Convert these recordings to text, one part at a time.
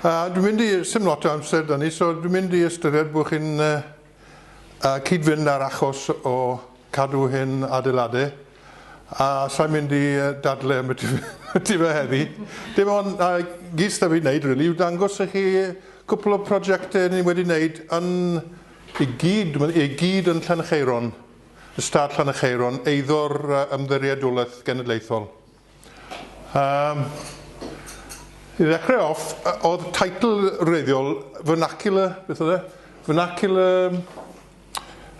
A dwi'n mynd i, sy'n lot o amser da ni, so dwi'n mynd i ystyried bod chi'n uh, cyd-fynd ar achos o cadw hyn adeiladau a sa'n mynd i dadle am y ti fe heddi. Dim ond uh, gys da fi wneud, rili, really, yw dangos i chi cwpl o prosiectau ni wedi wneud yn i gyd, i gyd yn Llancheiron, y stad Llancheiron, eiddo'r ymddiriedolaeth genedlaethol. Yym, i ddechrau off, oedd teitl wreiddiol Vernacular, beth oedd e? Vernacular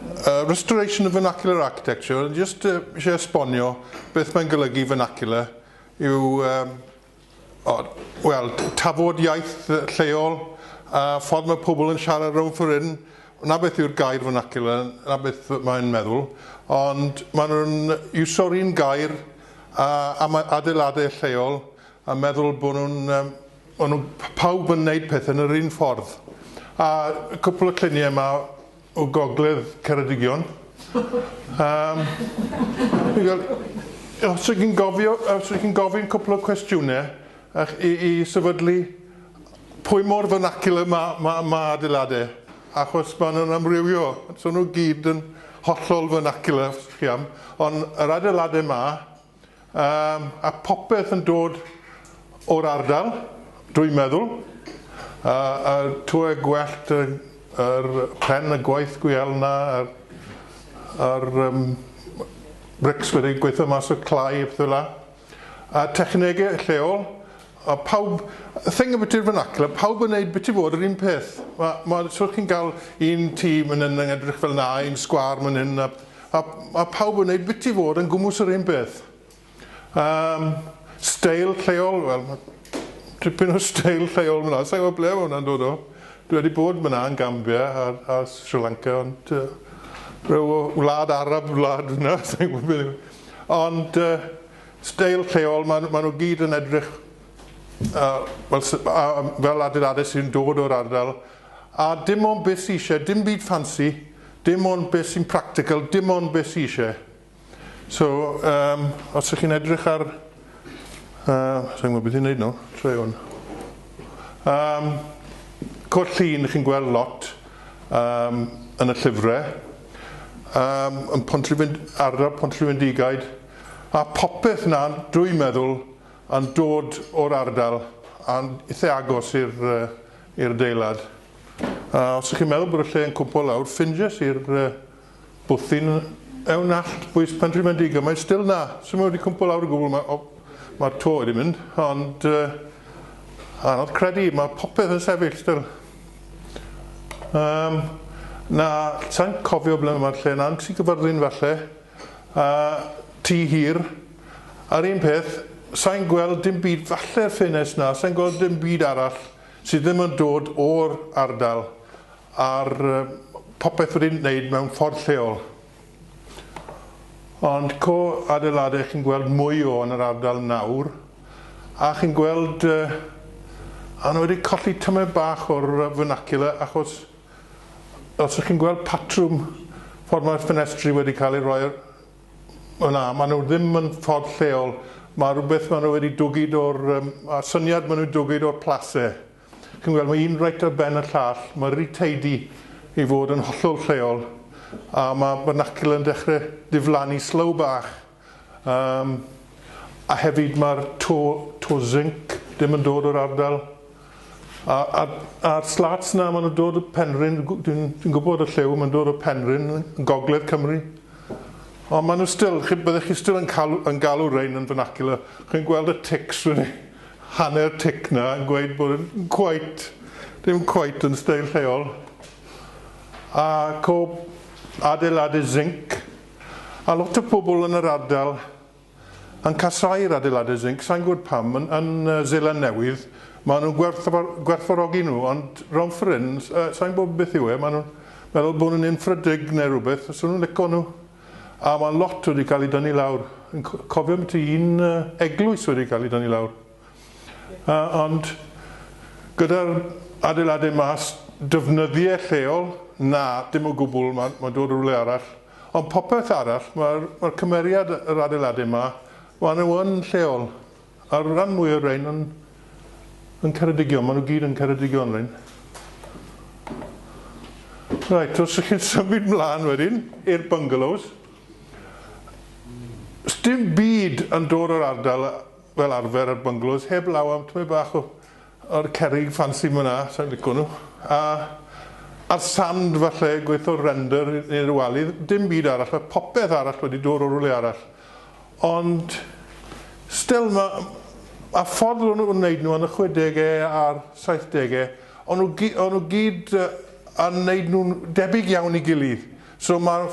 yy Restoration of Vernacular Architecture, o'n i jyst yy isie esbonio beth mae'n golygu vernacular yw yym o wel tafod iaith lleol a ffordd mae pobl yn siarad rownd ffor hyn 'na beth yw'r gair vernacular, 'na beth mae'n meddwl, ond maen nhw'n iwsio'r un gair a am adeiladau lleol a meddwl bod nhw'n yym o'n nhw p- pawb yn wneud pethau yn yr un ffordd. A cwpl o lluniau yma o gogledd Ceredigion. Yym fi'n gweld os ydych chi'n gofio os ydych chi'n gofyn cwpl o cwestiynau ych- i i sefydlu Pwy mor vernacular ma, ma, ma adeilade, achos ma nhw'n amrywio, so nhw gyd yn hollol vernacular, os chi am, ond yr adeilade ma, um, a popeth yn dod o'r ardal, dwi'n meddwl, a, a tŵe gwellt y, yr pren, y gwaith gwiel na, a'r, ar um, brics wedi gweithio mas o clai a pethau la. a technegau lleol a pawb, y thing ymbiti'r vernacular, pawb yn wneud biti fod yr un peth. Mae, mae, os chi'n cael un tîm yn yn edrych fel na, un sgwar man hyn, a, a, a pawb yn wneud biti fod yn gwmws yr un peth. Um, steil lleol, wel, tipyn o steil lleol fyna, sa'n gwybod ble mae hwnna'n dod o. Dwi wedi bod fyna yn Gambia a, a Sri Lanka, ond uh, rhyw wlad Arab wlad fyna, sa'n gwybod beth Ond steil lleol, maen nhw gyd yn edrych fel adeiladau sy'n dod o'r ardal a dim ond beth sy isie, dim byd ffansi, dim ond beth sy'n practical, dim ond beth sy isie. So os ych chi'n edrych ar Yy, sai'n gwbod beth i neud nawr. Try hwn. Yym, Cwrt Llun chi'n gweld lot yym yn y llyfre. Yym, yn Pontrhyfyn- ardal Pontrhyfyndigaid, a popeth 'na dwi'n meddwl yn dod o'r ardal a'n ithe agos i'r yy i'r adeilad. A os 'ych chi'n meddwl bod y lle yn cwmpo lawr, ffindies i'r yy Bwthyn yw nallt bwys Penrhymedig a mae still 'na. Swn i'm wedi cwmpo lawr o gwbl, mae o... mae'r to wedi mynd, ond yy anodd credu, mae popeth yn sefyll still. Yym na, sa i'n cofio ble mae'r lle 'na, yn Tŷ Gyfyrddin falle, a tŷ hir, a'r un peth, sa i'n gweld dim byd, falle'r ffenest 'na, sa i'n gweld dim byd arall sydd ddim yn dod o'r ardal. ar popeth wedi'n wneud mewn ffordd lleol. Ond co adeiladau chi'n gweld mwy o yn yr ardal nawr a chi'n gweld yy a nhw wedi colli tymed bach o'r vernacular achos os ych chi'n gweld patrwm ffordd mae'r ffenestri wedi cael ei roi yn dda maen nhw ddim yn ffordd lleol mae rhywbeth maen nhw wedi dwgyd o'r yym a'r syniad maen nhw'n dwgyd o'r place Chi'n gweld, mae un reit ar ben y llall. Mae rhyw tidy i fod yn hollol lleol, a mae vernacular yn dechrau diflannu slow bach. Um, a hefyd mae'r to, to zinc ddim yn dod o'r ardal. A, a, a'r slats na, maen nhw'n dod o Penrhyn, dwi'n dwi gwybod y llew, maen dod o Penrhyn, yn gogledd Cymru. Ond maen nhw still, chi, byddech chi still yn, cael, yn galw rhain yn vernacular. Chi'n gweld y tics, rydyn ni. Hanner tic na, yn gweud bod e'n cweit, ddim cweit yn steil lleol. A co adeiladu zinc. A lot o pobl yn yr ardal yn casau'r adeiladu zinc, sa'n gwybod pam, yn yn Seland Newydd, maen nhw'n gwerthfa- gwerthfawrogi nhw, ond rownd ffor' hyn, sa'n gwybod beth yw e, maen nhw'n meddwl bod nhw'n unfrydig neu rywbeth, so nhw'n lico nhw. A mae lot wedi cael ei dynnu lawr. Yn cofio am ti un eglwys wedi cael ei dynnu lawr. A, ond gyda'r adeiladau mas, dyfnyddiau lleol, na, dim o gwbl, mae, mae dod rhywle arall. Ond popeth arall, mae'r, mae'r cymeriad yr adeiladau yma, maen nhw yn lleol. A'r ran mwy o'r rhain yn yn Ceredigion, maen nhw gyd yn Ceredigion rhain. Right, os ych chi'n symud mlaen wedyn i'r bungalows, dim byd yn dod o'r ardal fel arfer ar bungalows, heb law am tmau bach o, o'r cerig ffansi yma na, sa'n lico nhw. A, a'r sand falle, gweithio'r render neu'r walydd, dim byd arall, mae popeth arall wedi dod o rwle arall. Ond, still, ma', a ffordd o'n nhw'n wneud nhw yn y chwedege a'r saithdege, o'n nhw gy- o'n nhw gyd yn wneud nhw'n debyg iawn i gilydd. So ma',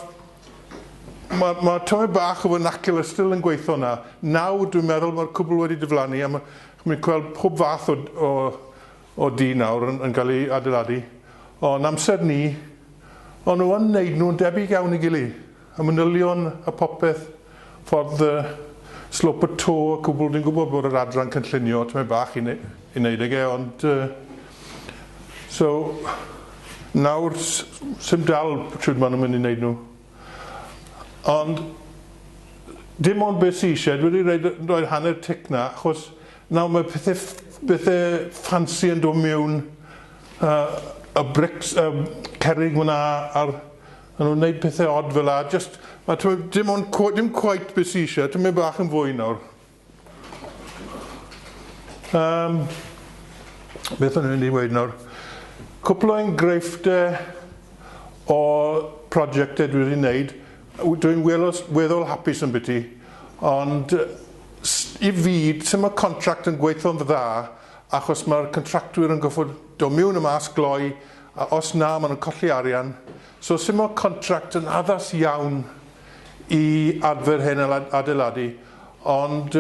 ma', ma' tymed bach o vernacular still yn gweitho yna. Nawr, dwi'n meddwl, ma'r cwbl wedi diflannu a ma', chi'n mynd gweld pob fath o, o, o dŷ nawr yn, yn cael ei adeiladu. O, yn amser ni, o'n nhw yn wneud nhw'n debyg iawn i gilydd. Y manylion a phopeth, ffordd y slope y to y cwbl dwi'n gwybod bod yr adran cynllunio tymed bach i i neud ag e ond yy so nawr s- sim dal shwd ma' nhw'n mynd i neud nhw ond dim ond be sy isie dwi wedi roid yy roid hanner tic na achos nawr mae pethe ff- bethe ffansi yn do mewn yy y brics y cerrig mna a'r A nhw'n neud pethe od fel 'a jyst a t'mod dim ond cw- dim cweit be' sy isie tymed bach yn fwy nawr. Yym beth o'n i'n mynd i weud nawr? Cwpl o enghreiffte o prosiecte dwi 'di neud w- dwi'n welos- weddol hapus ymbyti ond yy s- i fi sim y contract yn gweitho'n dda achos ma'r contractwyr yn goffod do' miwn a mas gloi A os na, maen nhw'n colli arian. So sumo contract yn addas iawn i adfer hen adeiladu, ond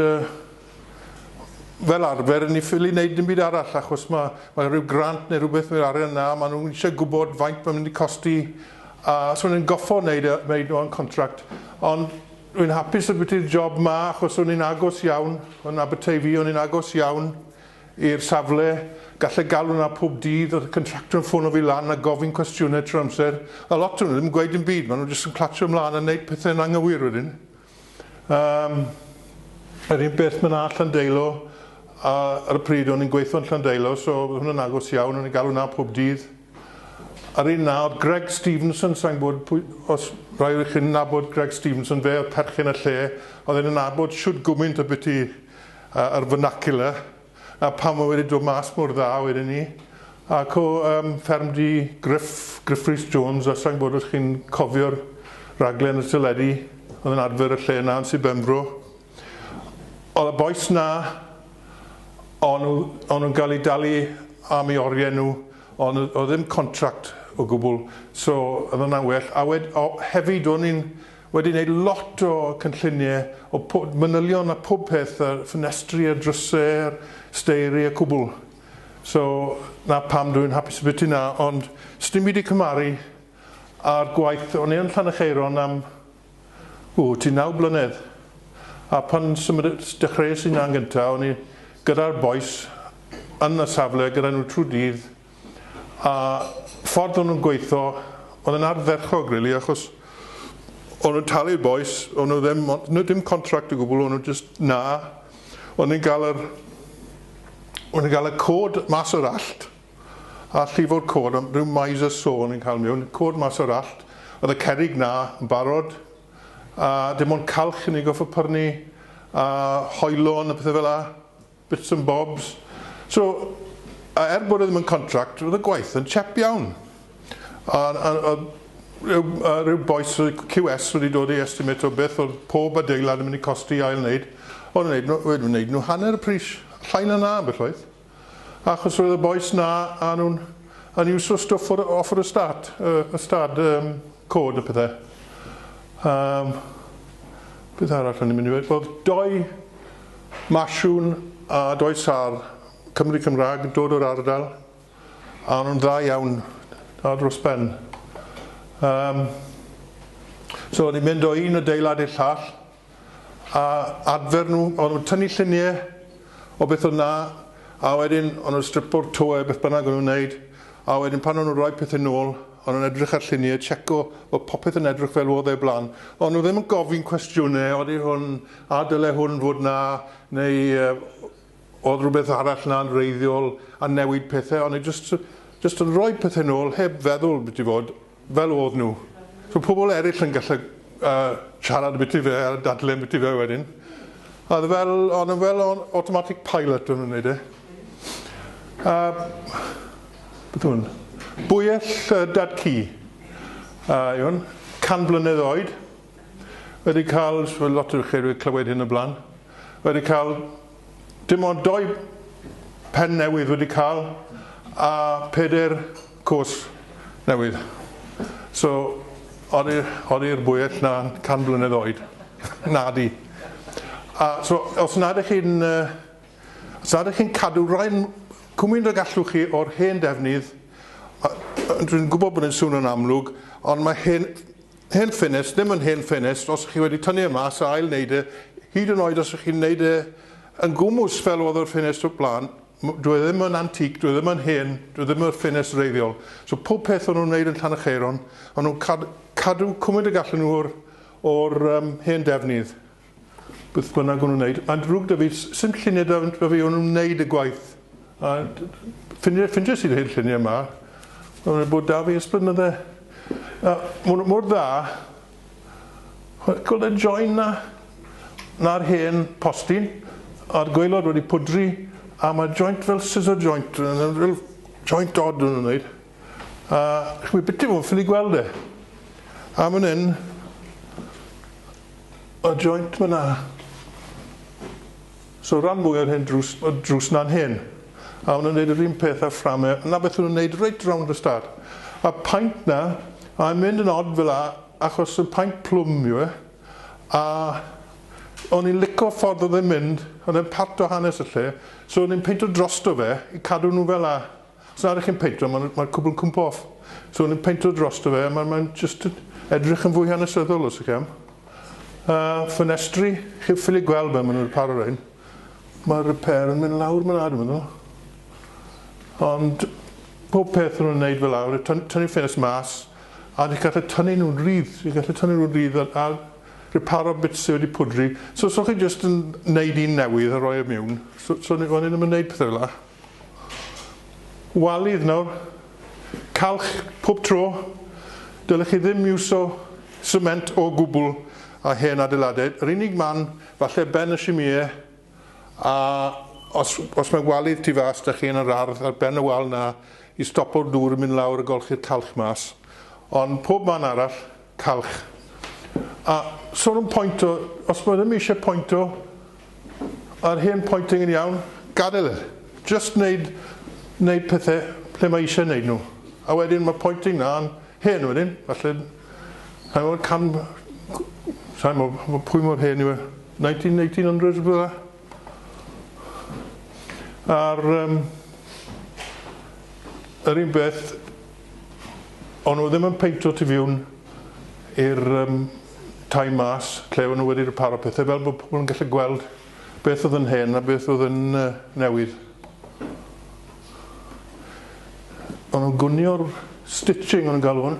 fel arfer, ni ffili wneud dim byd arall achos mae, mae rhyw grant neu rhywbeth neu'r arian yna, maen nhw'n eisiau gwybod faint mae'n mynd i costi, a so maen nhw'n goffo wneud, wneud nhw'n contract. Ond rwy'n hapus y byty'r job ma achos o'n i'n agos iawn, yn Aberteifi, o'n i'n agos iawn, i'r safle, galle galw 'na pob dydd, o'dd y contractor yn ffono fi lan a gofyn cwestiyne trwy'r amser, a lot o nhw ddim yn gweud dim byd, ma' nhw jyst yn clatsio mlan a neud pethe'n anghywir wedyn. Yym yr un peth ma' 'na Llandeilo a ar y pryd o'n i'n gweithio'n Llandeilo so o'dd hwnna'n agos iawn, o'n i'n galw 'na pob dydd. A'r un 'na o'dd Greg Stevenson, sai'n gwbod pwy os rai o chi'n nabod Greg Stevenson, fe o'dd perchen y lle, o'dd e'n yn nabod shwd gwmynt ambyti yy yr vernacular a pam ma' wedi dod mas mor dda wedyn 'ny ac o yym ffermdy Gruff Gruff Rhys Jones a sai'n gwbod os chi'n cofio'r raglen y teledu o'dd yn adfer y lle 'na yn sir Benfro o'dd y bois 'na o'n nw o'n nw'n ga'l 'u dalu am 'u orie nw on' yy o'dd ddim contract o gwbwl so o'dd wnna'n well a wed- o hefyd o'n i'n Wedi wneud lot o cynllunie o po- manylion a pob peth a ffenestri a drysau a'r steiri a cwbl. So 'na pam dwi'n hapus y biti 'na ond sdim byd i cymaru a'r gwaith o'n i yn Llanycheiron am ww ti naw blynedd a pan symud- dechreues i 'na'n gynta' o'n i gyda'r bois yn y safle gyda nhw trwy dydd a ffordd o'n nhw'n gweithio oedd yn ardderchog rili achos o'n nhw'n talu'r bois, o'n nhw ddim, o'n nhw dim contract o gwbl, o'n nhw just na, o'n nhw'n cael yr, o'n nhw'n cael y cod mas o'r allt, a llifo'r cod, am rhyw mais a so o'n nhw'n cael mewn, cod mas o'r allt, oedd y cerig na yn barod, a dim ond calch yn ei goffo pyrnu, a hoelon a pethau fel la. bits and bobs. So, a er bod e ddim yn contract, oedd y gwaith yn chep iawn. A, a, a rhyw, a rhyw boes QS wedi dod i estimate o beth oedd pob adeilad yn mynd i costi ail wneud, oedd yn wneud, wedi wneud nhw hanner y pris, llai na na ambell waith. Achos roedd y boes na, a nhw'n yn iwso stwff o'r, off y stad, y stad um, cod y pethau. Um, beth arall o'n i'n mynd i ddweud? Oedd doi Masiwn a does ar Cymry Cymraeg yn dod o'r ardal a o'n nhw'n dda iawn a dros ben. Um, so o'n i'n mynd o un adeilad i'r llall a adfer nhw, o'n nhw'n tynnu lluniau o beth o'n na a wedyn o'n nhw'n stripo'r toe beth bynnag o'n nhw'n wneud a wedyn pan o'n nhw'n rhoi pethau nôl o'n nhw'n edrych ar lluniau, checo bod popeth yn edrych fel oedd e blaen. O'n nhw ddim yn gofyn cwestiynau, oeddi hwn A dyle hwn fod 'na, neu oedd rhywbeth arall 'na'n wreiddiol a newid pethau, ond jyst jyst yn rhoi pethau nôl heb feddwl byti fod, fel oedd nhw. So pobl eraill yn gallu yy siarad ambiti fe a dadle ambiti fe wedyn. A oedd e fel, o'n nhw fel o'n automatic pilot o'n nhw'n wneud e. A beth yw hwn? Bwyell Dad-cu a yw hwn, can blynedd oed. wedi cael, fel lot o chi wedi clywed hyn o blaen, wedi cael dim ond doi pen newydd wedi cael a peder cwrs newydd. So, odi'r bwyell na 100 blynedd oed? Nadi. A so, os nad ych chi'n os nad ych chi'n cadw rai cwmwyn y gallwch chi o'r hen defnydd, dwi'n gwybod bod yn swn yn amlwg, ond mae hen Hen ffenest, ddim yn hen ffenest os ych chi wedi tynnu e mas a ail-wneud e, hyd yn oed os ych chi'n wneud e yn gwmws fel oedd yr ffenest o'r blaen, dyw e ddim yn antique, dyw e ddim yn hen, dyw e ddim yn ffenest wreiddiol. So pob peth o'n nhw'n wneud yn Llanycheiron, o'n nhw'n cadw cwmwnt y gallen nhw o'r o'r yym hen defnydd. beth bynnag o'n nhw'n wneud. Mae'n drwg da fi, sy'n lluniau da, da fi o'n nhw'n wneud y gwaith. A ffyndiau, ffyndiau sydd hyn lluniau yma. Mae'n nhw'n bod da fi ys blynydde. A mor, mor dda. Gweld y join na? Na'r hen postyn. A'r gweilod wedi pwdri. A mae joint fel scissor joint. Fel joint odd o'n nhw'n wneud. A chwi byti fo ffili gweld e. A fan hyn, y joint fyna. So ran mwy o'r hyn drws, y drws na'n hyn. A hwna'n neud yr un peth a fframe. Na beth hwna'n neud reit round y stad. A paint na, a mae'n mynd yn od fel a, achos y paint plwm yw e. A o'n i'n lico ffordd oedd e'n mynd, oedd e'n part o hanes y lle, so o'n i'n peinto drosto fe i cadw nhw fel a. Os na rych chi'n peintro, mae'r mae cwbl yn cwmpo off. So o'n i'n peintro drosto fe, mae'n mae just edrych yn fwy hanesyddol os ych am. A ffenestri, chi'n ffili gweld be maen nhw'n paro rhain. Mae'r repair yn mynd lawr mae'n adeg nhw. Ond pob peth nhw'n wneud fel awr, tynnu ffenest mas, a ni'n gallu tynnu nhw'n rydd, ni'n gallu tynnu nhw'n rydd a, a reparo bits sydd wedi pwdri. So, so chi jyst yn wneud un newydd a rhoi e mewn. So, so o'n i ddim yn wneud pethau fel yna. walydd nawr, calch pob tro, dylech chi ddim iwso sement o gwbl a hen adeiladau, yr unig man falle ben y simie a os os mae walydd tu fas da chi yn yr ardd ar ben y wal na i stopo'r dŵr yn mynd lawr a golchi'r calch mas ond pob man arall Calch. A sôn am pointo, os mae ddim eisiau pointo, yr hen pointing yn iawn, gadael e. Just wneud, wneud pethau lle mae eisiau wneud nhw. A wedyn mae pointing na'n hen wedyn, falle, sa'n gwybod, can, sa'n gwybod pwy mor hen yw e, 19, 1800 rhywbeth fel 'na? A'r um, yr un beth, o'n nhw ddim yn peintio tu fiwn i'r um, tai mas, lle o'n nhw wedi rhywbeth o pethau, fel bod pobl yn gallu gweld beth oedd yn hen a beth oedd yn uh, newydd. O'n nhw'n gwnio'r stitching o'n nhw'n galw hwn,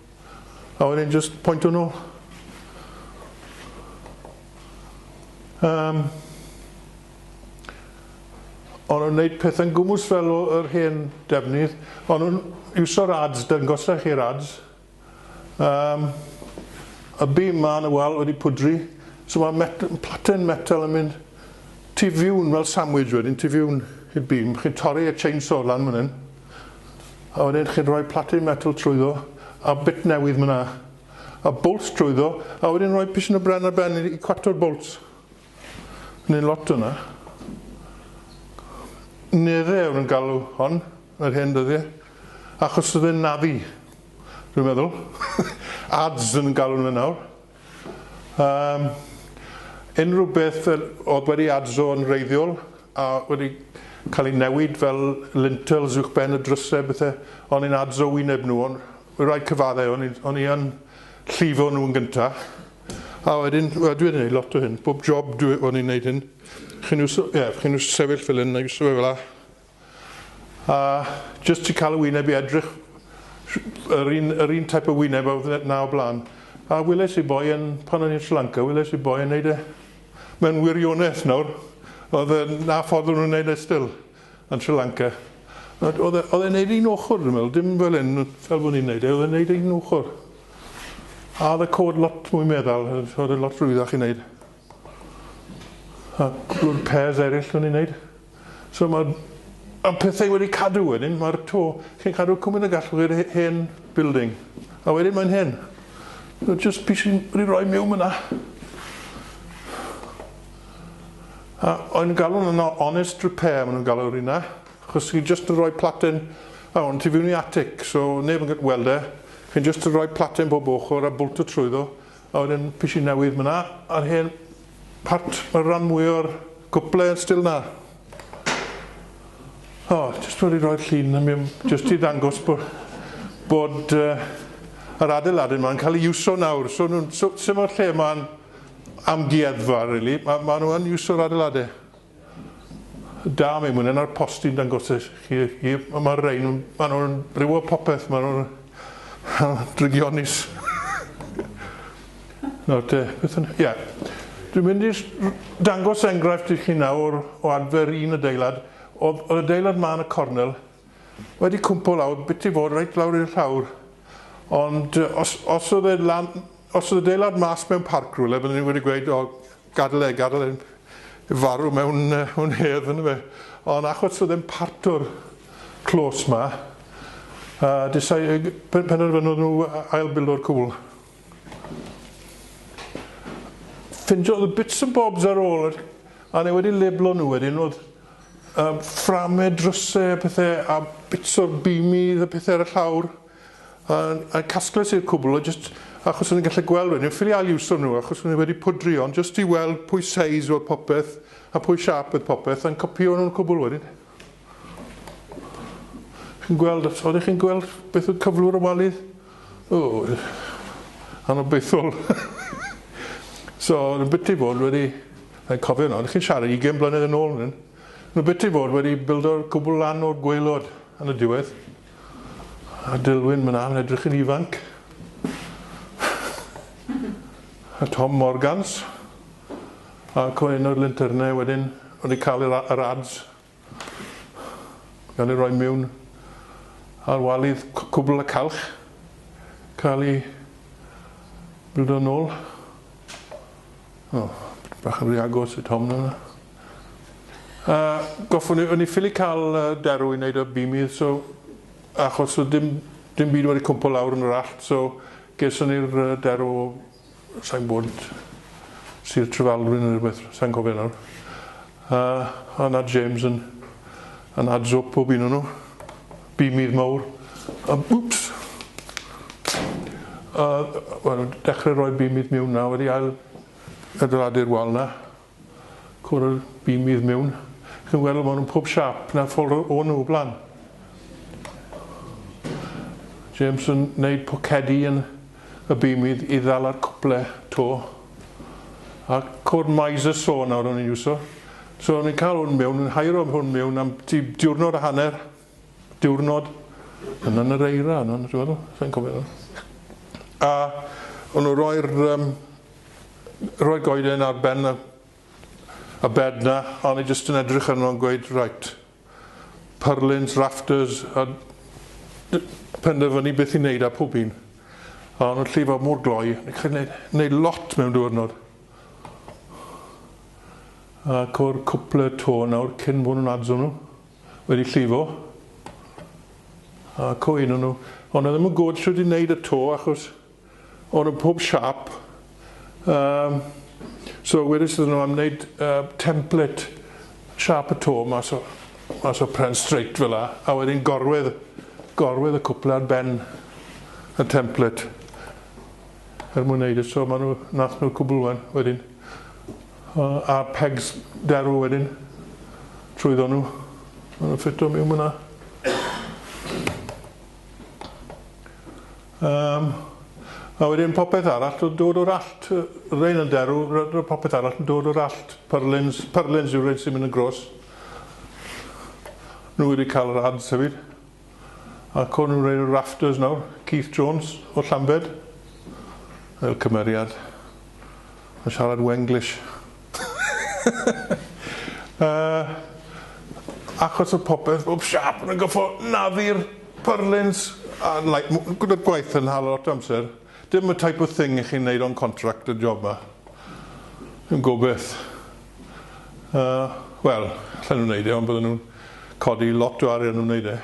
A wedyn just pointio nhw. Um, ond nhw'n gwneud pethau'n gwmws fel yr hen defnydd, ond nhw'n iwsio'r ads, dangosau chi'r ads. Um, y bim ma yn y wal wedi pwdri, so mae met platen metal yn mynd tu fiwn fel sandwich wedyn, tu fiwn i'r bim. Chi'n torri y chainsaw lan fan hyn. a wedyn chi'n rhoi platin metal trwyddo a bit newydd myna a bolts trwyddo a wedyn rhoi piston o bren ar ben i cwato'r bolts neu'n lot o'na nere oedd yn galw hon yr hyn dyddiau achos oedd e'n nafi dwi'n meddwl ads yn galw nhw nawr Yym, unrhyw beth fel oedd wedi adzo yn wreiddiol a wedi cael ei newid fel lintels uwchben y drysau a bethau, o'n i'n adzo wyneb nhw, o'n i'n rhoi cyfaddau, o'n i'n o'n i yn llifo nhw yn gyntaf, a wedyn dwi wedi wneud lot o hyn, bob job dwi o'n i'n wneud hyn, chi'n iwso, ie, chi'n iwso sefyll fel hyn a iwso fe fel'a, A jyst trio cael y wyneb i edrych yr un, yr un type o wyneb a oedd na o blaen. A weles i boi yn, pan o'n i'n Sri Lanka, weles i boi yn neud e mewn wirionedd nawr. Oedd e, na ffordd o'n nhw'n neud e still yn Sri Lanka. Oedd e, oedd e'n neud un ochr dwi'n meddwl, dim fel hyn, fel bod ni'n neud e, oedd e'n neud e un ochr. A oedd y cod lot mwy meddal, oedd e lot rwyddach i neud. A dw'r pairs eraill o'n i'n neud. So ma' y pethau wedi cadw wedyn, ma'r to, chi'n cadw cwmyn y gallwch i'r hen building. A wedyn mae'n hen. So jyst pys i wedi roi miwn myn 'na. A o'n galw'n yno honest repair ma' nhw'n galw rina, achos chi jyst yn rhoi platen a hwn tu fiwn i atic, so neb yn gallu weld e, chi'n jyst yn rhoi platen bob ochr a bwlto trwyddo, A wedyn pys i newydd myna a'r hen part ma'r ran mwy o'r gwple yn stil na. O jyst wedi rhoi'r llun yn mynd jyst i ddangos bo bod uh, yr adeiladu ma'n cael ei iwso nawr so nhw'n so, symud lle ma'n amgueddfa rili really. ma, ma nhw yn iwso'r adeiladu. Da, mae mwyn ar posti'n dangos i chi, hi, mae'r rhain, maen nhw'n rhyw popeth, maen nhw'n drygionis. Nawr te, beth yn... Ie. Dwi'n mynd i dangos enghraifft i chi nawr o adfer un adeilad. Oedd y adeilad ma yn y cornel wedi cwmpo lawr, bit i fod reit lawr i'r llawr. Ond os, os oedd e lan, os oedd adeilad mas mewn parc rhywle, byddwn ni wedi gweud, o, Gadel e, gadel e farw mewn un hedd yn dyfe. Ond achos oedd e'n parto'r clos ma, a disau, penderfynodd nhw ail-bildo'r cwbl. Ffindiodd y bits and bobs ar ôl, a neu wedi leblo nhw wedyn, oedd uh, fframau, drysau a pethau, a bits o'r bimidd a pethau ar y llawr. A'i casgles i'r cwbl o jyst achos o'n i'n gallu gweld wedyn, ffili ail-iwso nhw achos o'n i wedi pwdri ond jyst i weld pwy seis oedd popeth a pwy siâp oedd popeth a'n copïo nhw'n cwbl wedyn. Chi'n gweld, os oeddech chi'n gweld beth oedd cyflwr y wali? O, anobeithol. so, yn biti fod wedi, yn cofio yno, chi'n siarad 20 blynedd yn ôl, yn yn biti fod wedi bildo'r cwbl lan o'r gweilod yn y diwedd. A Dilwyn, mae 'na, mae'n edrych yn ifanc. A Tom Morgans. A Coen o'r Linternau wedyn wedi cael yr, yr ads. Gael ei roi mewn ar walydd cwbl y calch. Cael ei bildo'n ôl. O, bach yn rhy agos i Tom yna. A goffwn i, o'n i ffili cael derw i wneud y bimidd so achos oedd dim dim byd wedi cwmpo lawr yn yr allt so geson ni'r derw o sai'n gwbod Sir Trefaldwyn neu rhywbeth, sai'n cofio nawr. A a 'na James yn yn adzo pob un o nhw. Bimidd mawr. A wps! A wel dechrau rhoi bimidd miwn 'na wedi ail adeiladu'r wal 'na. Cwrdd dim fydd mewn. Chi'n weld ma' nhw'n pob siâp na ffolro o nhw o blaen. James yn neud pocedi yn y bymydd i ddal ar cwple to. A cwrdd Miser so nawr o'n i'n iwso. So o'n i'n cael hwn mewn, yn hairo hwn mewn am tua diwrnod a hanner. diwrnod yn yn yr eira yna, dwi'n meddwl, sa'n cofio nawr. A o'n nhw roi'r um, roi goeden ar ben y, y bed na, a o'n i jyst yn edrych arno yn gweud, right, purlins, rafters, a penderfynu beth i wneud a pob un. A o'n nhw'n llifo mor gloi, ni'n cael gwneud, gwneud lot mewn diwrnod. Ac o'r cwpl y to nawr cyn bod nhw'n adzo nhw. wedi llifo ac o un o nhw ond oedd ddim yn gwybod sut i wneud y to achos o'n nhw pob siap um, so wedys iddyn nhw am wneud uh, template siap y to mas o, mas o pren straight fel la a wedyn gorwedd gorwedd y cwpl ar ben y template er mwyn wneud y so maen nhw nath nhw'r cwbl wedyn A pegs derw wedyn trwyddo nhw. Maen nhw'n ffito miwn fyna. Um, a wedyn popeth arall yn dod o'r allt, rein yn derw, popeth arall yn dod o'r allt. Pyrlins, pyrlins yw rein sy'n mynd yn gros. Nhw wedi cael yr ads hefyd. Ac o'n nhw'n rhoi'r rafters nawr, Keith Jones o Llambed, fel cymeriad, yn siarad Wenglish. uh, achos y popeth, bob siap yn gyffo naddu'r purlins, a like, gyda gwaith yn hal lot amser. Dim y type of thing i chi'n neud o'n contract y job ma. Yn gobeth. Yy, wel, allan nhw wneud e, ond bydden nhw'n codi lot o arian yn wneud e.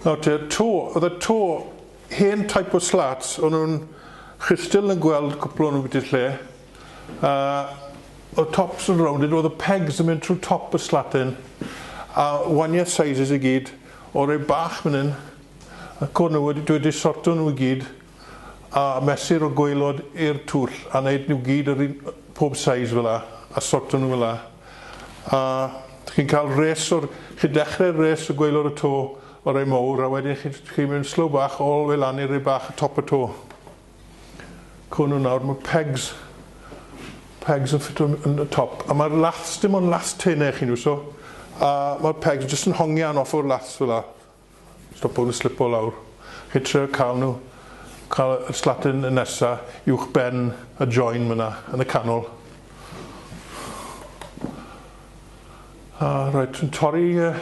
Nawr te, to, oedd y to, hen type o slats, o'n nhw'n chystil yn gweld cwpl o'n nhw'n bwyty lle, a oedd tops yn rounded, oedd y pegs yn mynd trwy top y slatyn, a waniau sizes i gyd, o rei bach fan hyn, ac o'n nhw wedi, dwi wedi sorto nhw i gyd, a mesur o gwaelod i'r twll a neud nhw gyd yr un pob size fel 'a a sorto nhw fel 'a a chi'n ca'l res o'r chi'n dechre res o gwaelod y to o rei mowr a wedyn chi'n chi'n mynd slow bach all the way lan i rei bach y top y to. Co nhw nawr ma' pegs pegs yn ffito yn y top a ma'r laths dim ond laths tene chi'n iwso a ma'r pegs jyst yn hongian off o'r laths fel 'a. Stopo nhw slipo lawr. Chi'n trio cael nhw, cael y slatyn nesa uwch ben y join fyna yn y canol. A rhaid yn torri uh,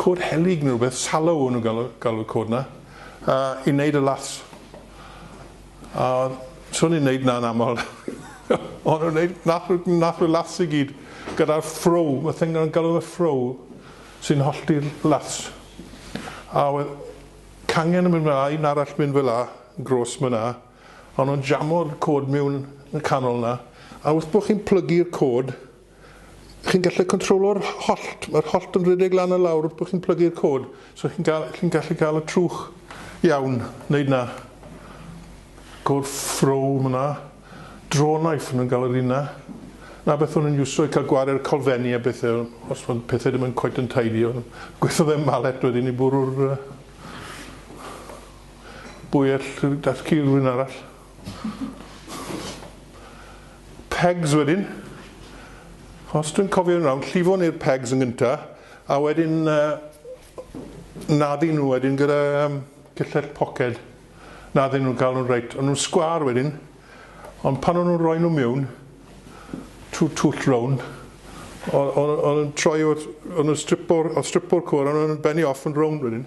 cod helig neu rhywbeth, sallow o'n nhw'n galw, galw cod na, uh, i wneud y laths. A so ni'n neud na'n amal o'n nhw'n neud nath nhw nath nhw laths i gyd gyda'r ffrow ma' thing o'n galw fe ffrow sy'n hollti'r laths a wedd cangen yn mynd fel a un arall mynd fel a yn grôs ma' na o'n nhw'n jamo'r côd miwn yn y canol na a wrth bo' chi'n plygu'r côd Chi'n gallu controlo'r hollt, mae'r hollt yn rhedeg lan a lawr wrth bod chi'n plygu'r cod, so chi'n cael, chi'n gallu cael y trwch iawn, wneud na. Cod ffrow ma na. Draw knife nhw'n gael yr un na. Na beth o'n nhw'n iwso i cael gware'r colfenni a bethau, os mae pethau ddim yn cweit yn tidy, o'n gweithio fe malet wedyn i bwrw'r uh, bwyell, dath ci rhywun arall. pegs wedyn, os dwi'n cofio'n rawn, llifo ni'r pegs yn gyntaf, a wedyn uh, naddu nhw wedyn gyda um, cyllell poced. Naddu nhw'n cael nhw'n reit. Ond nhw'n sgwar wedyn, ond pan o'n nhw'n rhoi nhw mewn, trwy twll rown, o'n nhw'n troi o'n nhw'n stripo'r stripo cwr, o'n nhw'n benni off yn rown wedyn.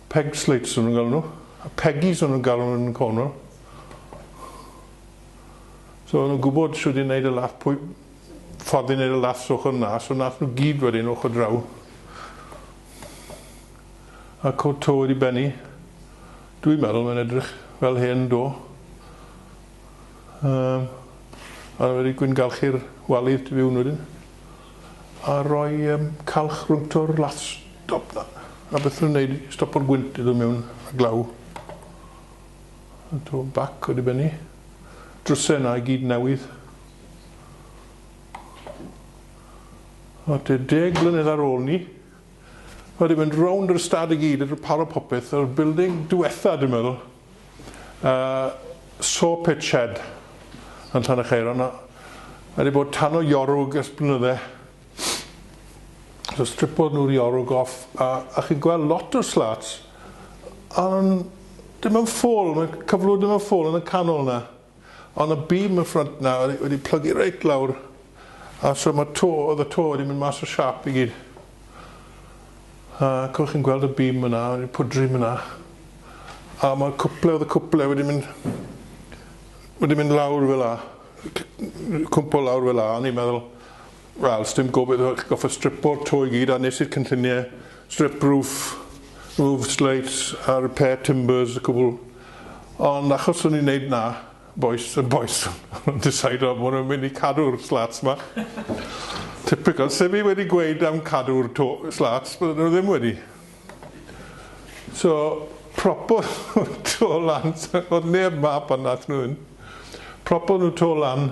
Peg slates o'n nhw'n galw nhw. Peggies o'n nhw'n galw nhw yn Cornwall. So o'n nhw'n gwybod sut i wneud y laff, pwy ffordd i wneud y laff so ochr na, so nath nhw gyd wedyn ochr draw. A cod to wedi benni. Dwi'n meddwl mae'n edrych fel hen do. Um, a wedi gwyngalchu'r walydd tu fiwn wedyn. A rhoi yym calch rwngto'r lath stop na. A beth rwy'n neud i stopo'r gwynt i ddod mewn a glaw. A to bac o dibeni. Drwse na i gyd newydd. A te deg blynedd ar ôl ni. Wedi mynd rownd yr ystad i gyd, wedi paro popeth, yr building diwetha dwi'n meddwl. Yy saw pit shed yn Llanechaeron a mae 'di bod tan o Iorwg ers blynydde. So stripodd nhw'r Iorwg off a a chi'n gweld lot o slats a nhw'n dim yn ffôl, mae cyflwr ddim yn ffôl yn y canol 'na. Ond y beam y front na wedi wedi plygu reit lawr a so ma to oedd y to wedi mynd mas o siap i gyd. A cwch chi'n gweld y beam yna wedi pwdri yna. A mae cwple oedd y cwple wedi mynd wedi mynd lawr fel a cwmpo lawr fel a o'n i'n meddwl Wel, sdim gobaith achos chi'n gorfod stripo'r to i gyd a nes i'r cynlluniau strip roof, removed slates a repair timbers a cwbl. Ond achos o'n i'n neud 'na, bois yn bois o'n nhw'n decido bo' nhw'n mynd i cadw'r slats 'ma. Typical, se fi wedi gweud am cadw'r to- slats bydden nhw ddim wedi. So, propodd nhw'r to lan, o'dd neb 'ma pan nathon nhw fynd. Propodd nhw to lan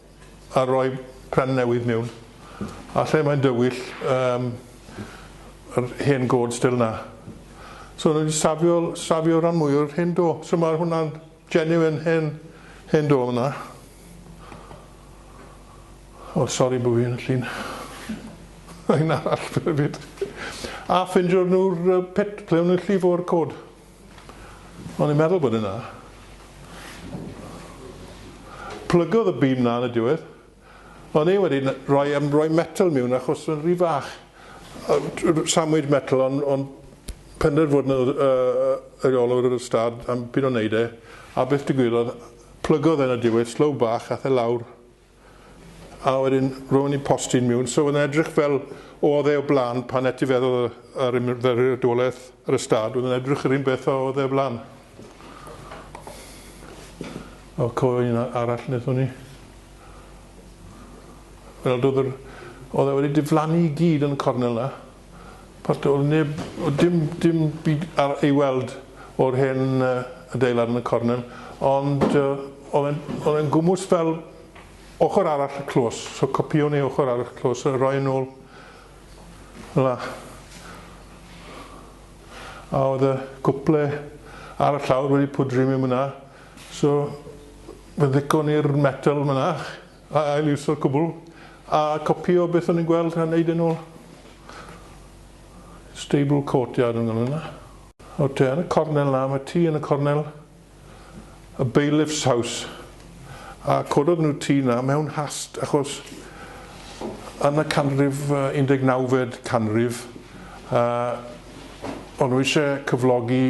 a rhoi pen newydd miwn a lle mae'n dywyll yym yr hen gôd still na so o'n nhw wedi safio safio ran mwy o'r hen do so mae hwnna'n genuine hen hen do yna o oh, sori bod fi'n llun un arall hefyd a ffindio'r nhw'r pit ple o'n nhw'n llifo'r cod O'n i'n meddwl bod yna. Plygodd y bîm na yn y diwedd. O'n i wedi rhoi, um, rhoi metal miwn achos o'n rhy fach. Samwyd metal ond on penderf fod yn yr olwr yr ystad am byd o'n neud e. A beth digwyddodd? Plygodd e yn y diwedd, slow bach, ath e lawr. a wedyn ro'n i'n postyn miwn, so oedd e'n edrych fel oedd e o blaen pan etifeddodd y, yr ymddiriedolaeth yr ystad, oedd e'n edrych yr un beth a oedd e o blaen. O, co un arall wnaethon ni. Wel, oedd yr, oedd e wedi diflannu i gyd yn y cornel na. Port Talbot, neb, dim, dim byd ar ei weld o'r hen adeilad yn y cornel, ond oedd e'n, oedd e'n gwmws fel ochr arall y clos, so copïo ni ochr arall y clos a roi yn ôl fel 'na. A oedd y cwple ar y llawr wedi pwdri mewn fan'na, so fe ddiccon ni'r metel fan'na, A ail-iwsio'r cwbl, a copïo beth o'n i'n gweld a neud e'n ôl. Stable courtyard o'n galw hwnna. O te yn y cornel 'na, ma' tŷ yn y cornel, y bailiff's house, a cododd nhw'r tŷ 'na mewn hast achos yn y canrif yy un deg nawfed canrif yy o'n nhw isie cyflogi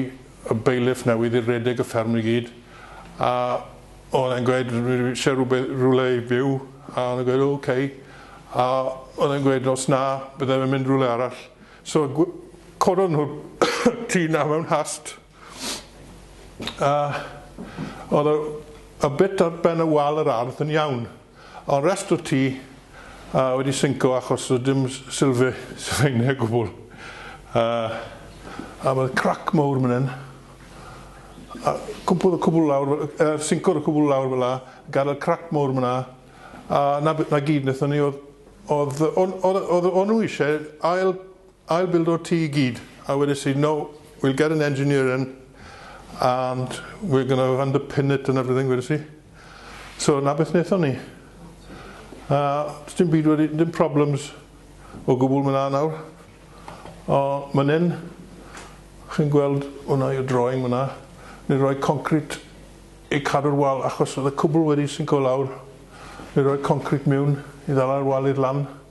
y bailiff newydd i redeg y fferm i gyd a O'n e'n gweud dwi eisiau rhywbeth, rhywle i fyw a o'n e'n gweud ok a o'n e'n gweud os na byddai fe'n mynd rhywle arall. So gw- cododd nhw'r tŷ na mewn hast a o'dd y y bit ar ben y wal yr ardd yn iawn. Ond rest wyt ti yy wedi synco achos does dim sylfe- sylfaenau o gwbl. Yy a ma' crac mowr man 'yn. A cwmpodd y cwbl lawr f- yy yy syncodd y cwbl lawr fel 'a, gadel crac mowr man 'na, a 'na be- 'na gyd nethon ni o'dd o'dd yy o'n o'dd yy o'dd yy o'n nw isie ail I'll build o'r tŷ i gyd a wedes i no we'll get an engineer in and we're going to underpin it and everything wedes i. So 'na beth nethon ni. A does dim byd wedi dim problems o gwbwl ma' 'na nawr. O man 'yn chi'n gweld hwnna yw drawing ma' 'na ni roi concrit i cadw'r wal achos o'dd y cwbwl wedi sinco lawr ni roi concrit miwn i ddala'r wal i'r lan.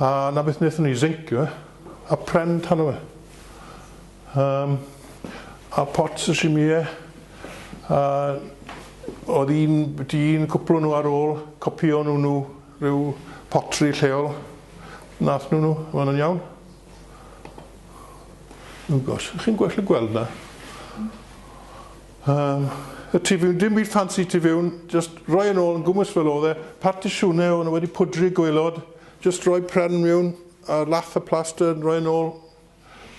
A 'na beth wnaethon ni, zeincio fe, a pren tan o fe. Um, a pot sashimi e, a oedd un byti un cwpl nhw ar ôl copio nhw nhw rhyw potri lleol. Nath nhw nhw, mae'n yn iawn. Ygos, chi'n gwell y gweld na? Yym, y tu fewn, dim byd ffansi tu fewn, jyst rhoi yn ôl yn gwmws fel oedd e, partisiwne o'n nhw wedi pwdru gwaelod, jyst rhoi pren mewn a lath y plaster yn rhoi yn ôl,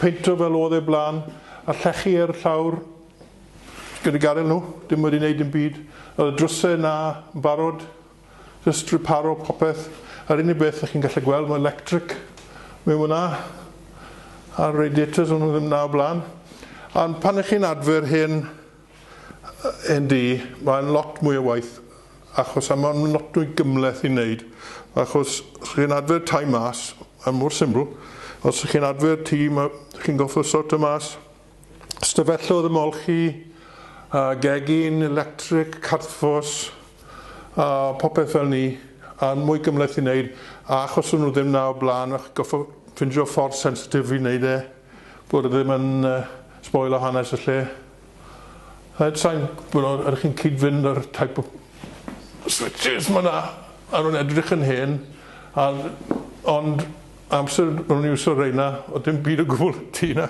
peinto fel oedd e blaen, a llechi ar y llawr gyda gadael nhw, dim wedi wneud dim byd. Oedd y drwsau 'na yn barod, Jyst riparo popeth. Yr unig beth dych chi'n gallu gweld mae lectric mewn fyna a'r radiators o'n nhw ddim na o blaen. Ond pan ych chi'n adfer hen hen dŷ mae'n lot mwy o waith achos a mae'n lot mwy gymhleth i wneud achos os chi'n adfer tai mas mae'n mor syml os chi'n adfer tŷ mae chi'n gorfod sortio mas Ystafellodd ymolchi a gegin electric cadfos a popeth fel ni yn mwy gymhleth i wneud a achos o'n nhw ddim na o blaen o'ch goffa ffindio ffordd sensitif i wneud e bod e ddim yn uh, sboil o hanes y lle. Rhaid sain, ydych chi'n cyd-fynd yr type of switches mae yna a nhw'n edrych yn hen a ond amser o'n i'n iwsio reina o dim byd o gwbl ti na.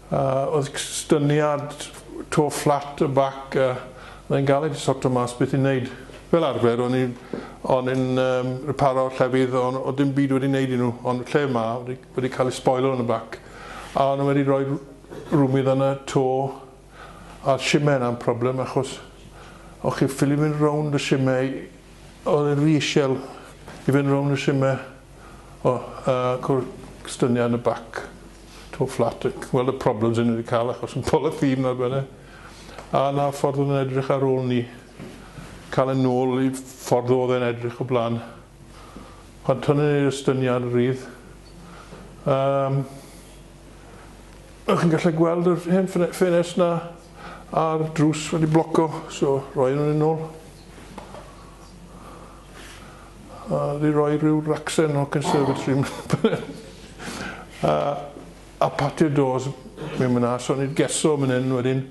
A oedd cysyniad to flat y bac a mae'n galed i sorto mas beth i neud. Fel arfer o'n i'n o'n i'n yym riparo llefydd o' n- o'dd dim byd wedi neud i nhw ond lle ma' wedi wedi cael ei sboilo yn y bac a o'n nhw wedi rhoi r- rwmydd yn y to a shime yna'n problem achos o'ch chi'n ffili mynd rownd y shime i o'dd e'n ry ishel i fynd rownd y shime o yy cwr- cysyniad yn y bac. to flat ac wel y problems yn wedi cael achos yn polythene fel bydde a na ffordd oedd yn edrych ar ôl ni cael yn nôl i ffordd oedd yn edrych o blaen pan tynnu ni'r estyniad rydd um, chi'n gallu gweld yr hen ffenest na a'r drws wedi bloco so roi nhw'n yn ôl a di roi rhyw ragsen o conservatory a patio doors mewn man 'na so o'n i 'di geso man 'yn wedyn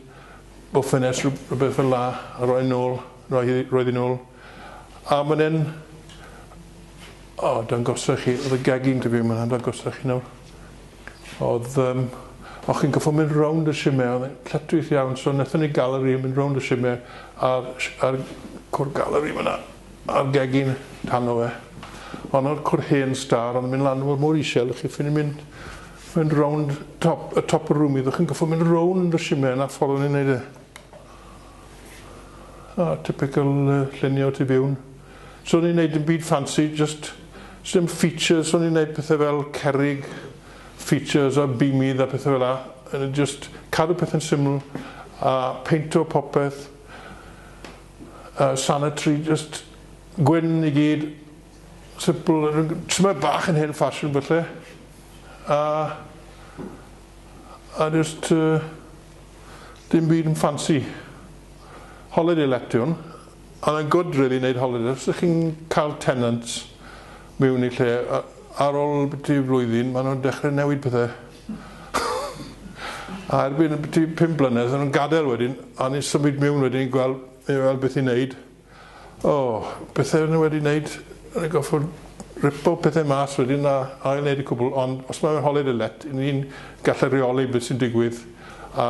bo ffenest rhywbeth fel 'a a roi nôl roi hi roedd hi nôl a man 'yn o dangosa chi o'dd y gegin ti fi man 'na dangosa chi nawr o'dd yym o chi'n goffo mynd rownd y shime o'dd e'n lletchwith iawn so nethon ni galeri yn mynd rownd y shime a'r a'r cwr galeri man 'na A'r gegin tano fe. Honno'r cwr hen star ond yn mynd lan mor mor isel dych chi ffili mynd mynd rownd top y top y rwmi ddych chi'n goffo mynd rownd y shime na ffordd o'n i'n neud e. A typical uh, llunio tu fewn. So o'n i'n neud yn byd ffansi just sdim features o'n i'n neud pethau fel cerig features a bimidd a pethau fel a yn just cadw pethau'n syml a peinto popeth y sanitary jyst gwyn i gyd sipl tymed bach yn hen ffasiwn falle a a jyst yy dim byd yn ffansi holiday let ti hwn a mae'n gwd rili neud holiday os ych chi'n cael tenants miwn i lle a- ar ôl biti flwyddyn ma' nhw'n dechre newid pethe. a erbyn y byti pum blynedd yn gadael wedyn, a ni'n symud mewn wedyn i gweld, i weld beth i'n neud. O, pethau nhw wedi neud, yn y goffod ripo pethau mas wedyn a ail neud y cwbl, ond os mae'n holed y let, ni'n gallu reoli beth sy'n digwydd a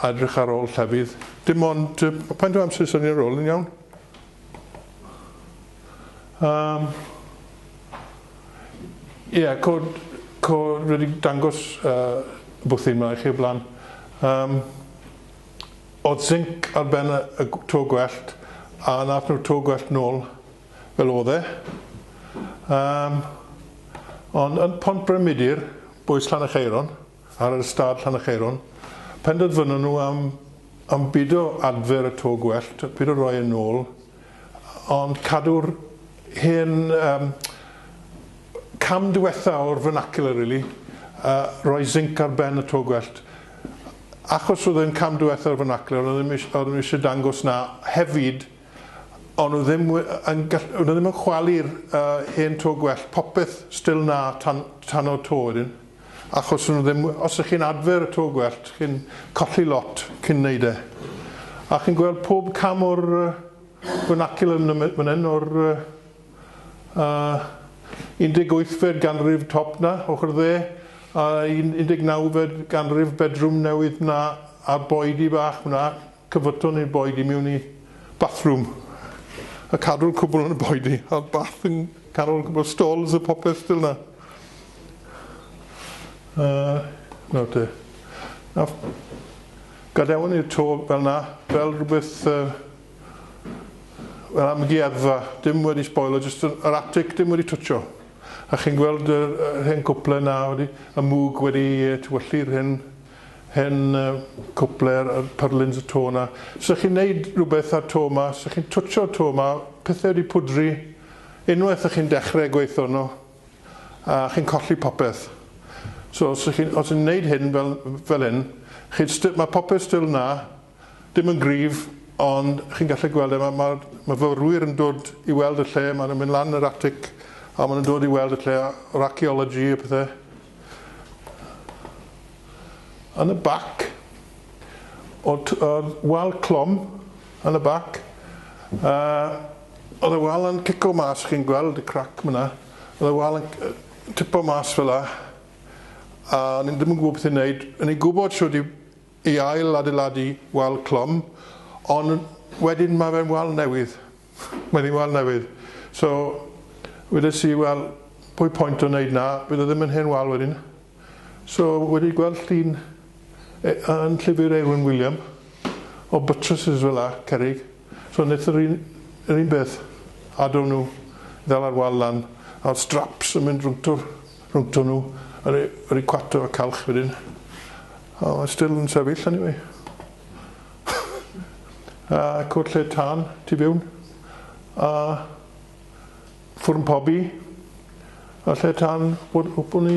edrych ar ôl llefydd. Dim ond, pa'n dwi amser syniad ar ôl yn iawn? Um, yeah, cod, cod wedi dangos uh, bwthyn yma i chi o blaen. Um, oedd zinc ar ben y, y to gwellt a nath nhw to gwellt nôl fel oedd e. Um, ond yn pont Bremidir, bwys Llan y Cheiron, Ar yr ystâd Llanycheirwn, penderfynon nhw am am bido adfer y to gwellt, pido roi e nôl, ond cadw'r hen yym cam diwetha o'r vernacular rili, yy roi zinc ar ben y to gwellt. Achos oedd e'n cam diwetha o'r vernacular o'n nhw ddim isie o'n nhw isie dangos na hefyd o'n nhw ddim we- yn gall- o'n nhw ddim yn chwalu'r yy hen to gwellt, popeth still 'na tan tan o'r to wedyn. achos nhw ddim, os ych chi'n adfer y to gwellt, chi'n colli lot cyn wneud e. A chi'n gweld pob cam o'r fernaculum fan hyn, o'r uh, 18fed ganrif top na, ochr dde, a 19fed ganrif bedroom newydd na, a'r boedi bach hwnna, Cyfyton yn boed i mewn i bathroom a cadw'r cwbl yn boed i a bath yn canol cwbl stalls a popeth stil na a nawr te a gadewon ni'r to fel na fel rhywbeth uh, fel amgueddfa dim wedi spoilo jyst yr atic dim wedi twtio a chi'n gweld yr, yr hen cwple na wedi y mwg wedi tywyllu'r hen hen gwpler yr pyrlins y to na. Sa chi'n neud rwbeth a'r to ma, sa chi'n twtsio'r to ma, pethe wedi pwdri, unwaith y'ch chi'n dechre gweitho arno, a chi'n colli popeth. So sa chi'n, os yn neud hyn fel fel hyn, chi'n sti- ma' popeth stil na, dim yn gryf, ond chi'n gallu gweld e, ma' ma'r myfyrwyr yn dod i weld y lle, ma' nw'n mynd lan yr atic, a ma' nw'n dod i weld y lle, yr archaeology a pethe. yn y bac, oedd wal clwm yn y bac, oedd y wal yn cico mas, chi'n gweld y crac fan'na, oedd y wal yn tipo mas fel'a, a o'n i'n ddim yn gwybod beth i wneud, o'n i'n gwybod shwt i i ail adeiladu wal clwm, ond wedyn ma' fe'n wal newydd. Mae ddim wal newydd. So, wedes i, wel, pwy point o wneud na, bydd o ddim yn hen wal wedyn. So, wedi gweld llun e, yn llyfr Eowyn William, o buttresses fel la, cerrig. So, wnaeth yr un, yr un beth, adw nhw, ddala'r wal lan, a'r straps yn mynd rwngto'r, rwngto nhw, a rei, rei cwato a calch wedyn. A mae still yn sefyll anyway. a cwt lled tân tu fewn, a ffwrn pobi, a lled tân bod hwpwn i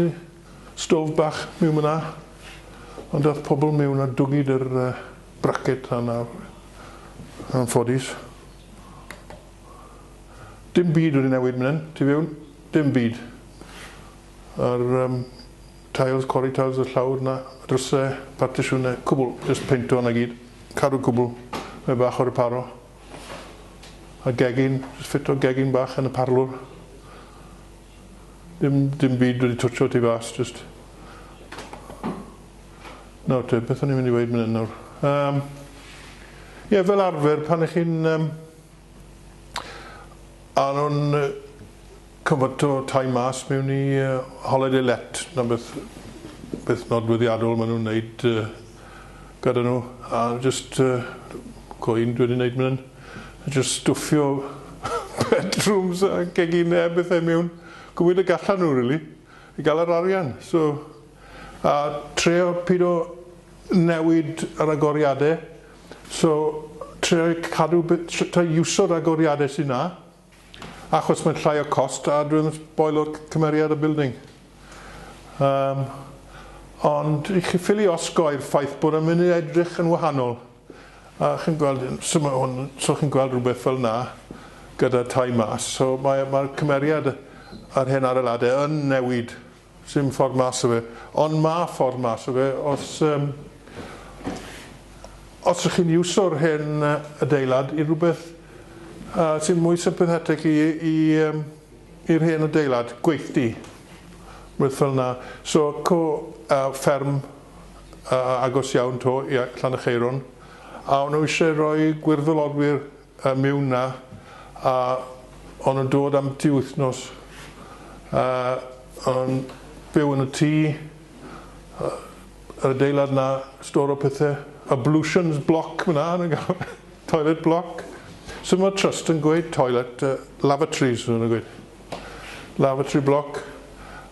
stwf bach miwn fyna, ond dath pobl miwn a dwgid yr braced tân ar yn ffodus. Dim byd wedi newid mynen, tu fewn, dim byd. A'r Tiles, cori tiles y llawr na dryse, partisiwne, cwbl, jyst peinto 'na gyd, cadw cwbl, mae bach o reparo, a gegin, jyst ffito gegin bach yn y parlwr, dim, dim byd wedi twtsio tu fas, jyst. Nawr te, beth o'n i'n mynd i weud mynd nawr? Um, ie, fel arfer, pan ych chi'n um, A nhw'n cyfyto tai mas mewn i holiday let, 'na beth beth nodweddiadol maen nhw'n wneud gyda nhw, a jyst co un dwi 'di wneud fan hyn, jyst stwffio bedrooms a gegin a bethau mewn cymryd y gallan nhw rili, i gael yr arian, so a trio pido newid yr agoriadau. So trio cadw b- tr- try iwso ragoriade sy 'na achos mae'n llai o cost a dwi'n sboilo'r c- cymeriad y building. Yym ond i chi ffili osgoi'r ffaith bod e'n mynd i edrych yn wahanol a chi'n gweld yn- so ma' hwn so chi'n gweld rhywbeth fel 'na gyda tai mas so mae mae'r cymeriad yr hen adeilade yn newid. Sim ffordd mas o fe. Ond ma ffordd mas o fe os yym os ych chi'n iwso'r hen adeilad i rwbeth yy sy'n mwy sympathetic i i yym i'r hen adeilad, gweithdy, rwbeth fel 'na. So co yy fferm yy agos iawn 'to i yy Llanaceiron a o'n nhw isie roi gwirfoddolwyr y miwna a o'n nhw'n dod am dri wythnos a o'n byw yn y tŷ yy yr adeilad 'na stor o pethe ablutions block fan'na o'n nw'n galw fe toilet block so ma' trust yn gweud toilet yy lavatories ma' nw'n gweud lavatory block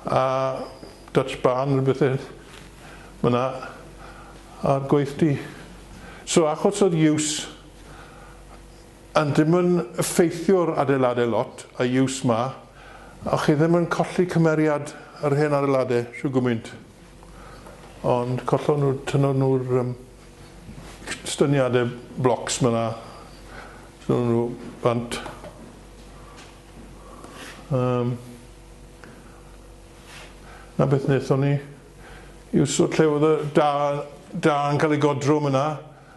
a Dutch barn ne' bethe ma' 'na a'r gweithdy so achos o'r use Ond dim yn ffeithiwr adeilade lot a use ma, a chi ddim yn colli cymeriad yr hen adeilade shw gwmynt. Ond collon nhw, tynnon nhw'r um, styniade blocs ma na, tynnon nhw bant. Um, na beth wnaethon ni. Yw so lle oedd y da, da yn cael ei godro ma na.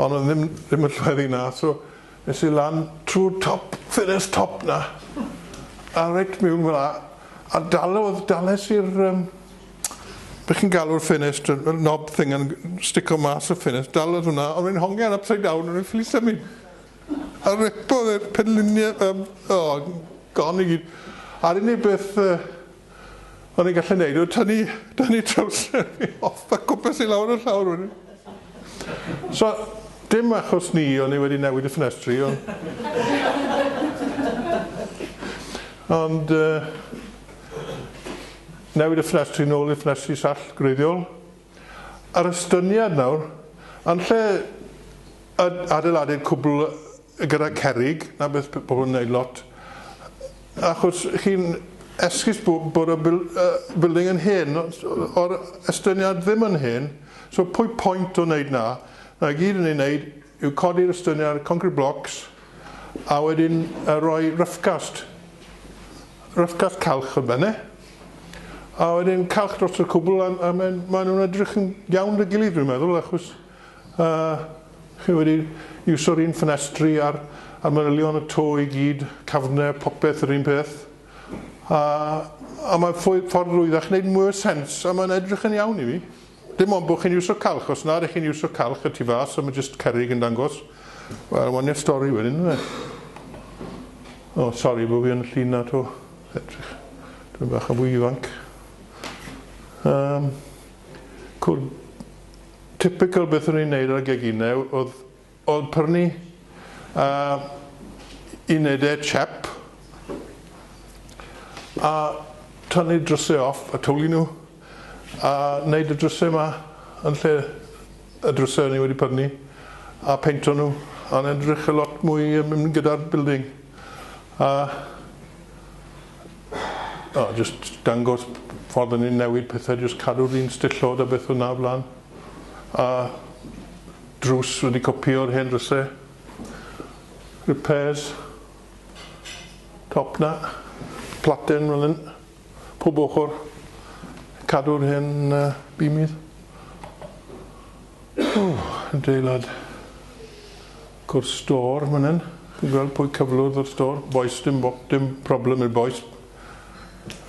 ond oedd ddim ddim yn llweddu yna so es i lan trw'r top ffenest top 'na a reit miwn fel 'a a dalodd dales i'r yym be' chi'n galw'r ffenest y y nob thing yn stico mas y ffenest dalodd hwnna o'n i'n hongian upside down o'n i'n ffili symud a ripodd y penllunie yym o gone i gyd a'r unig beth yy O'n i'n gallu neud yw tynnu, tynnu trowsur fi off a cwpes i lawr y llawr wedyn. So, dim achos ni o'n i wedi newid y ffenestri, ond... ond yy newid y ffenestri nôl i'r ffenestri sall gwreiddiol. A'r estyniad nawr, yn lle adeiladu cwbl gyda cerrig, 'na beth bydd pobl yn wneud lot, achos chi'n esgus bod y building yn hen, o'r estyniad ddim yn hen, so pwy point o wneud 'na? 'Na i gyd yn ei wneud yw codi'r estyniad, concrit blocks, a wedyn rhoi rough cast, rough cast calch ar ben e. A wedyn calch dros y cwbl, a, a maen, maen nhw'n edrych yn iawn dy gilydd dwi'n meddwl, achos uh, chi wedi iwso'r un ffenestri a'r, a'r manylion y to i gyd, cafnau, popeth yr un peth. A, a mae ffordd rwyddach wneud mwy o sens, a mae'n edrych yn iawn i mi. Dim ond bod chi'n iwsio calch, os na ydych chi'n iwsio calch y tu fas a mae jyst cerrig yn dangos, wel wania'r stori wedyn ynde? O, sori bod fi yn llun na to, edrych, dwi'n bach yn fwy ifanc. Um, cwrdd typical beth o'n i'n neud ar geginau oedd Oedd Pyrni a Ined e chap a tynnu dryse off a twli nhw a neud y dryse ma yn lle y dryse o'n i wedi pyrni a peinto nhw a o'n e'n edrych yn lot mwy yn mynd gyda'r building a o jyst dangos ffordd o'n i'n newid pethe jyst cadw'r un stillod a beth o'na o flan a Drws wedi copio'r hen drysau. Repairs. Top 'na. Platen fel hyn. Pob ochr. Cadw'r hen uh, bimidd. Oh, adeilad. Gwrs stor fan hyn. Chi'n gweld pwy cyflwrdd o'r stor? Boes, dim, dim problem i'r boes.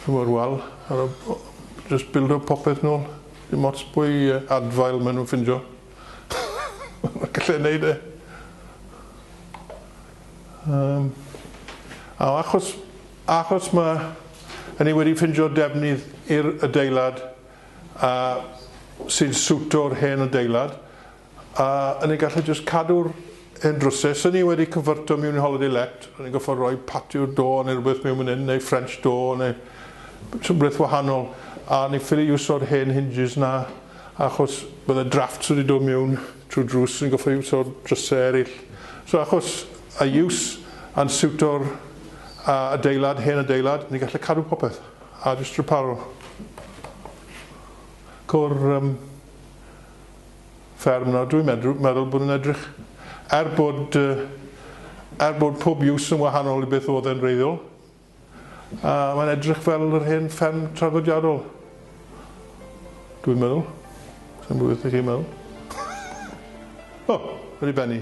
Rhyw o'r wal. Just build up popeth nôl. Dim ots pwy adfail maen nhw'n ffindio. Gallai wneud e. Um, a achos, achos mae hynny wedi ffindio defnydd i'r adeilad a sy'n siwto'r hen adeilad, a yn ei gallu jyst cadw'r Yn drwsus, o'n i wedi cyfyrto mewn i Holiday Let, o'n i'n gorfod rhoi Patio D'Or neu rhywbeth mewn fan hyn, neu French Door, neu rhywbeth wahanol, a o'n i'n ffili iwso'r hen hinges 'na, achos bydde drafts wedi dod mewn trwy'r drws, o'n i'n gorfod iwso'r drysau eraill. So achos a iws a'n siwto'r adeilad, hen adeilad, ni'n gallu cadw popeth, a jyst riparo. Co'r yym. fferm nawr, dwi'n meddwl, meddwl bod yn edrych, er bod, er bod pob use yn wahanol i beth oedd e'n reiddiol, a mae'n edrych fel yr hen fferm traddodiadol. Dwi'n meddwl. Sa'n gwybod beth chi'n meddwl. o, oh, wedi benni.